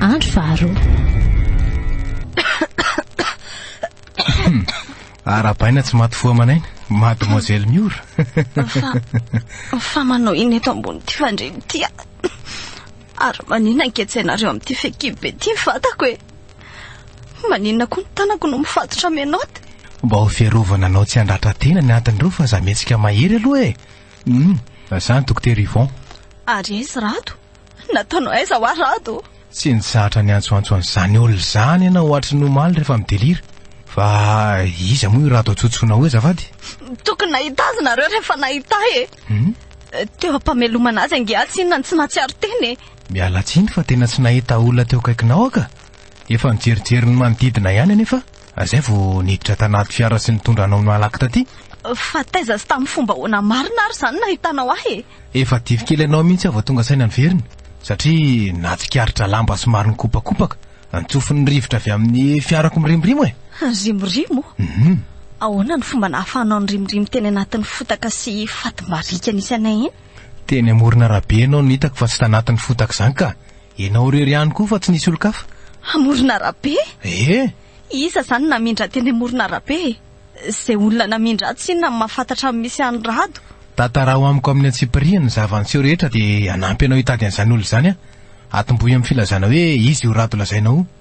Andro faharoa. Arabaina tsy maty fo aman'aina, mademoiselle Miora. Fa, fa manao ina eto ambonin'ity fandriana ity aho. Ary maninona anketsahinareo amin'ity fekibe ity ny vatako e? Maninona koa ny tanako no mifatotra menotte? Mba ho fiarovana anao tsy handratra tena ny antony ireo fa za mihetsika mahery aloha e. Hum, za ny dokotera Yvon. Ary aiza i Rado? Nataonao aiza hoa Rado ô? Tsy nizatra niantsoantso an'izany olona izany ianao hoatry ny omaly rehefa midelira. Fa iza moa io Rado antsontsona io azafady? Tokony nahita azy nareo rehefa nahita ahy e! Teo am-pamelomana azy ange aho tsy inona no tsy nahatsiaro teny e! Miala tsiny fa tena tsy nahita olona teo akaikinao aho ka! Efa nijerijery ny manodidina ihany anefa aho. Ary izay vao niditra tanaty fiara sy nitondra anao nalaky taty? Fa taiza sy tamin'ny fomba ahoana marina ary izany nahitanao ahy e? Efa dify kely anao mihitsy aho vao tonga saina niverina, satria nahatsikaritra lamba somary nikopakopaka an-tsofin'ny rivotra avy amin'ny fiarako mirimorimo e! Ririmorimo? Mhm. Ahoana no fomba nahafahanao nirimorimo teny anatin'ny fotaka sy fatim-bariaka nisy anay iny? Teny amoron'arabe ianao no hitako fa tsy tanatin'ny fotaka izany ka! Ianao irery ihany koa fa tsy nisy olon-kafa? Amoron'arabe? Ee. Iza izany no namindra teny amoron'arabe e? Izay olona namindra ato tsinona no mahafantatra ny misy an'i Rado. Tantaraho amiko amin'ny antsipiriany ny zava-niseho rehetra dia hanampy anao hitady an'izany olona izany aho. Atombohy amin'ny filazana hoe izy io Rado lazainao io.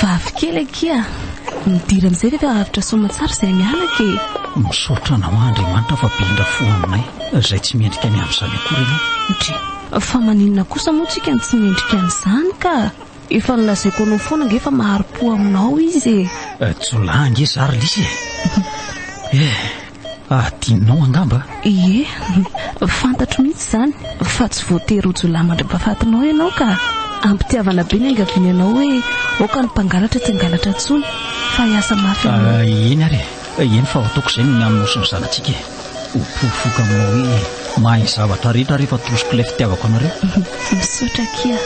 Vavikely akia midira amin'izay ve fa avotra soamantsara izay mianaka e Misaotra anao Andriamanitra fa be indra fo aminay izay tsy mendrika ny amin'izany akory ianao Andri Fa maninona kosa moa tsika no tsy mendrika an'izany ka? Efa nolazaiko anao foana ange fa mahari-po aminao izy e. Jiolahy ange za ry Lisy e. Eh. Adinonao angamba? Ie, fantatro mihitsy izany fa tsy voatery ho jiolahy mandra-pahafatinao ianao ka. Am-pitiavana be niangaviany anao hoe aoka ny mpangalatra tsy hangalatra intsony fa hiasa mafy amin'ny. Eny ary e! Eny fa ataoko izay no mihaminao sy ny zanatsika e! Ho porofoiko aminao hoe mahay ny zavatra rehetra rehefa atosiko ilay fitiavako anareo. Misaotra akia.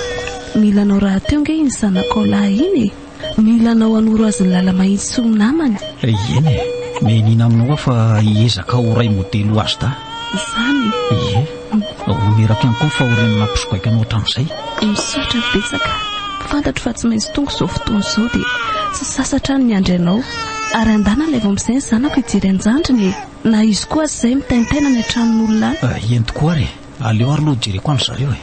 Nilanao rahateo ange iny zanakao lahy iny e! Mila anao hanoro azy ny lala mahitsy tsy ho namany. Ieny e! Mianiana aminao aho fa hiezaka ho ray modely ho azy dahy. Izany e! Ie! Hono eraky ihany koa ny fahoriana nampisogaiko anao hatramin'izay. Misaotra betsaka. Fantatro fa tsy maintsy tonga izao fotoana izao dia tsy sasa hatrany miandry anao. Ary andana ilay vao amin'izay ny zanako hijery an-jandriny e! Na izy koa aza izay mitaintaina any an-tranon'olona any. Ieny tokoa ary e! Aleo ary aloha hojereko an-dry zareo e!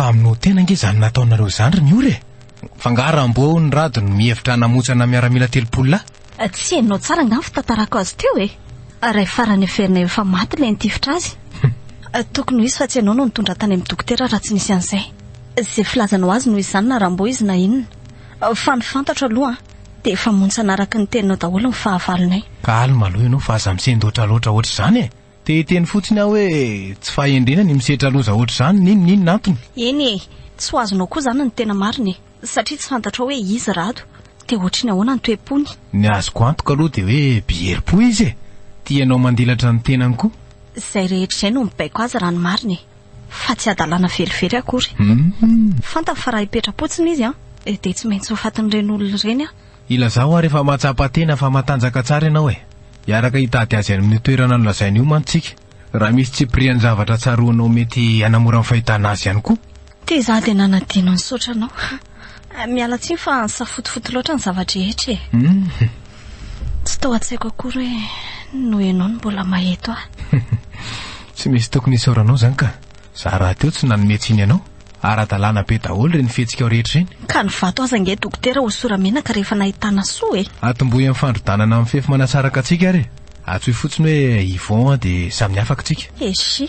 Fa amin'ny ho tena ange izany nataonareo izany ry Miora e! Fa nga Rambo ny Rado no mihevitra hanamotsana miaramila telopolo lahy? Tsy henonao tsara nga ny fitantarako azy teo e! Ray farany heverinay ho efa maty ilay nitifitra azy. Tokony ho izy fa tsy ianao no nitondra tany amin'ny dokotera raha tsy nisy an'izay. Izay filazanao azy noho izany na Rambo izy na inona. Fa ny fantatro aloha an! Dia efa montsana araka ny teninao daholo ny fahavalonay. Calme aloha ianao fa aza misendoatra loatra ohatr'izany e! Te hiteny fotsiny aho hoe tsy fahendrena ny misetra loza ohatr'izany, n'inona inona antony. Eny e! Tsy ho azonao koa izany ny tena marina e! Satria tsy fantatrao hoe izy Rado dia ohatry ny ahoana ny toe-pony. Ny azoko antoka aloha dia hoe be herim-po izy e! Tia anao mandilatra ny tenany koa. Izay rehetra izay no mibaiko azy raha ny marina e! fa tsy hadalana velively akory. Fantany fa raha hipetra-potsiny izy dia tsy maintsy ho fatin'ireny olona ireny an! Ilazao ary efa mahatsapa tena fa matanjaka tsara ianao e! Hiaraka hitady azy any amin'io toerana nolazainy io mantsy tsika, raha misy tsipirian'ny zavatra tsaroanao mety hanamora ny fahitana azy ihany koa. Tezà dia nanadino ny saotranao. Miala tsiny fa nisafotofoto loatra ny zava-drehetra e. Tsy tao an-tsaiko akory hoe noho ianao no mbola maheto ahy. Tsy misy tokony hisaoranao izany ka. Za rahateo tsy nanome tsiny anao. Ara-dalàna be daholo ireny fihetsikao rehetra ireny. Ka ny vato aza ange dokotera hosora menaka rehefa nahitana soa e. Atombohy amin'ny fandrodanana mifefy manasaraka antsika ary e. Antsoy fotsiny hoe Yvon dia samy afaka tsika. Eshi,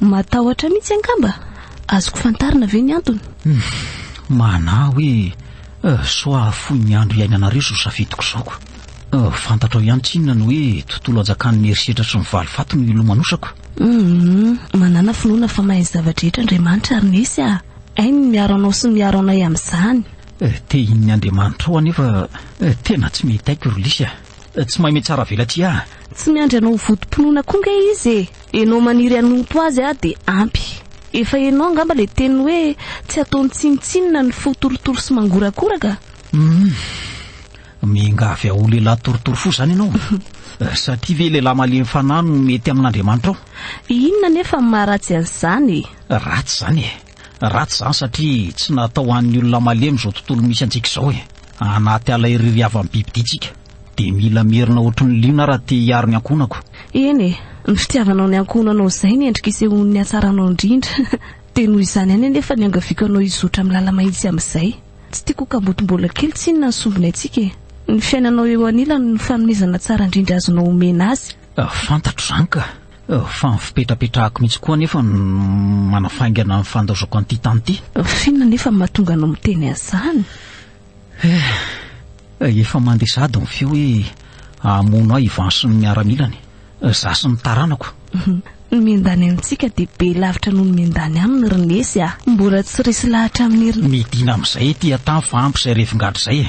Matahotra mihitsy angamba? Azoko fantarina ve ny antony? Manahy hoe soa hahafoy ny andro iainanareo izao safidiko izao ko. Fantatrao ihany tsinona ny hoe tontolo hajakan'ny herisetra sy ny valifaty no ilomanosako? Manàna finoana fa mahay ny zava-drehetra Andriamanitra ary Nesy a! Hainy ny miaro anao sy ny miaro anay amin'izany. Tehin'ny Andriamanitrao anefa tena tsy mety aiko ry Lisy a! Tsy maime tsara velatria ah. Tsy miandry anao ho votom-pinoana koa nge izy e! Enao maniry hanompo azy ah dia ampy. Efa enao angamba le teny hoe tsy ataony tsinontsinona ny fo torotoro sy mangorakoraka? Humm. Miangavy aho ho lehilahy torotoro fo zany enao? Satria ve lehilahy malemy fanahy no mety amin'Andriamanitra ao? Inona anefa ny maharatsy an'izany e? Ratsy zany e! Ratsy izany satria tsy natao ho an'ny olona malemy izao tontolo misy antsika izao e! Anaty ala irery havan'ny bibidia tsika dia mila merina ohatry ny liona raha te hiaro ny ankohonako. Eny e! Ny fitiavanao ny ankohonanao izay ny endrika isehoan'ny hatsaranao indrindra. Dia noho izany ihany anefa ny iangaviako anao hizotra milala mahitsy amin'izay. Tsy tiako ho kambotim-bola kely tsinona ny sombiny antsika e! Ny fiainanao eo anilany no fanomezana tsara indrindra azonao omena azy. Fantatro izany ka! Fa ny fipetrapetrahako mihitsy koa anefa no manafaingana ny fandaozako an'ity tany ity. F'inona anefa no mahatonga anao miteny an'izany? Eh, efa mandeha sahady ny feo hoe hamono ahy i Ivan sy ny miaramilany, izaho sy ny taranako. Ny miandany amintsika dia be lavitra noho ny miandany aminy ry Nesy ah! Mbola tsy resy lahatra amin'irn. Midina amin'izay ety an-tany fa ampy izay revin-gadra izay e!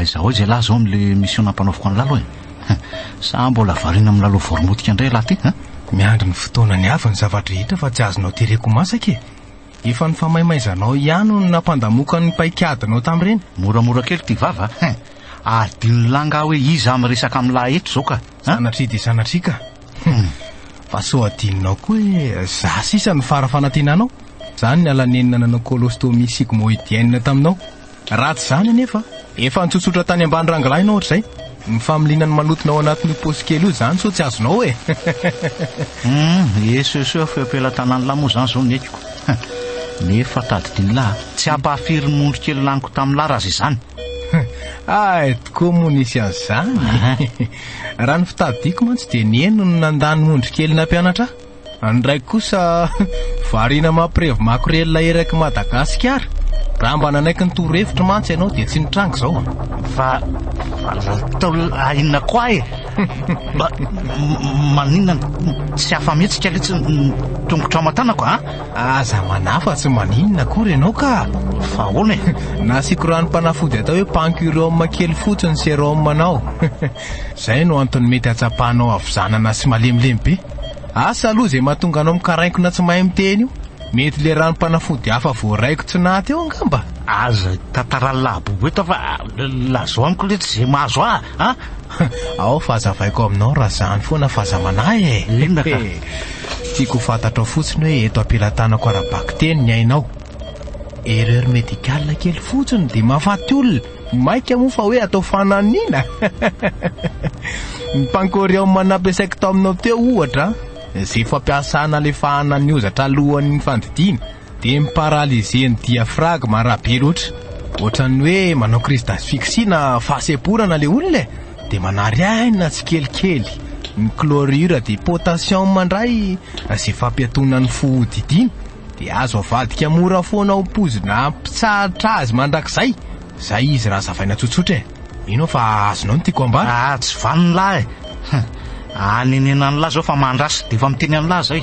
aizaho aiza ialahy zao amle mission nampanaoviko any lalo e sa mbola varina am lalo voromotika ndray ialahy ty a miandry ny fotoana ny avy ny zavadrehetra fa tsy azonao tereko masaka e Efa ny famaimaizanao ihany no nampandamoka ny paikadinao tamin'ireny? Moramora kely ity vava a! Adinon'i Lah angaha hoe iza miresaka amin'i Lah eto izao ka a! Sanatria dia sanatria ka! Fa sao adinonao koa hoe za sisa no fara fanantenanao? Za no niala nenina nanao colostomy sigmoïdienne taminao? Raha tsy izany anefa, efa nitsotsotra tany ambany rangilahina ohatra izay, ny familiana ny manotona ao anatin'io paosy kely io izany sao tsy azonao e! Humm, esoesoeo feo am-pelatanan'lah moa izany izao ny ekiko. Nefa tadidin'lah, tsy hampahafiry ny ondry kely laniko tamin'lah raha izay izany. Hay, tokoa moa nisy an'izany e! Raha ny fitadidiako mantsy dia ny eny no nandà ny ondry kely nampianatra ahy. Any ndraiky kosa variana mampirevy makorelina erak'i Madagasikara. Raha mba nanaiky ny torohevitro mantsy ianao dia tsy nitranga izao an. Fa natao inona koa e? Mba maninona tsy afa-mihetsika letsy ny tongotrao aman-tanako a? Aza manafa tsy maninona akory ianao ka. Fa ahoana e? Nasiako ranom-panafody atao hoe pancurium kely fotsiny serum anao. Izay no antony mety hatsapanao havizanana sy malemilemy be. Asa aloha izay mahatonga anao mikarainkona tsy mahay miteny io. Mety le ranom-panafody hafa voaraikotsinà teo angamba? Aza hitantarà labobo eto fa lazao amiko letsy izay mahazo ahy an! Ao fa hazavaiko aminao raha izany foana fa aza manahy e! Inona ka? Tiako ho fantatrao fotsiny hoe eto am-pelatanako ara-bakiteny ny ainao. Erreur médicale kely fotsiny dia mahafaty olona. Maika moa fa hoe atao fananina. Ny pancorium nampiasaiko taminao teo ohatra, izay fampiasa nalefahana ny ozatra alohan'ny fandidiana, dia mi-paralyser ny diaphragme raha be loatra. Ohatran'ny hoe manao crise d'asphyxie na fahasemporana ilay olona e. Dia manary aina tsikelikely. Ny chlorure de potassium indray izay fampiatoana ny fo hodidiana. Dia azo avadika mora foana ho pozina mpitsahatra azy mandrakizay izay izy raha zavaina tsotsotra e. Mino aho fa azonao ny tiako ambara. Aa tsy vanona lahy e. Anenena an'lah zao fa mandrasa. Dia efa miteny an'lah zay.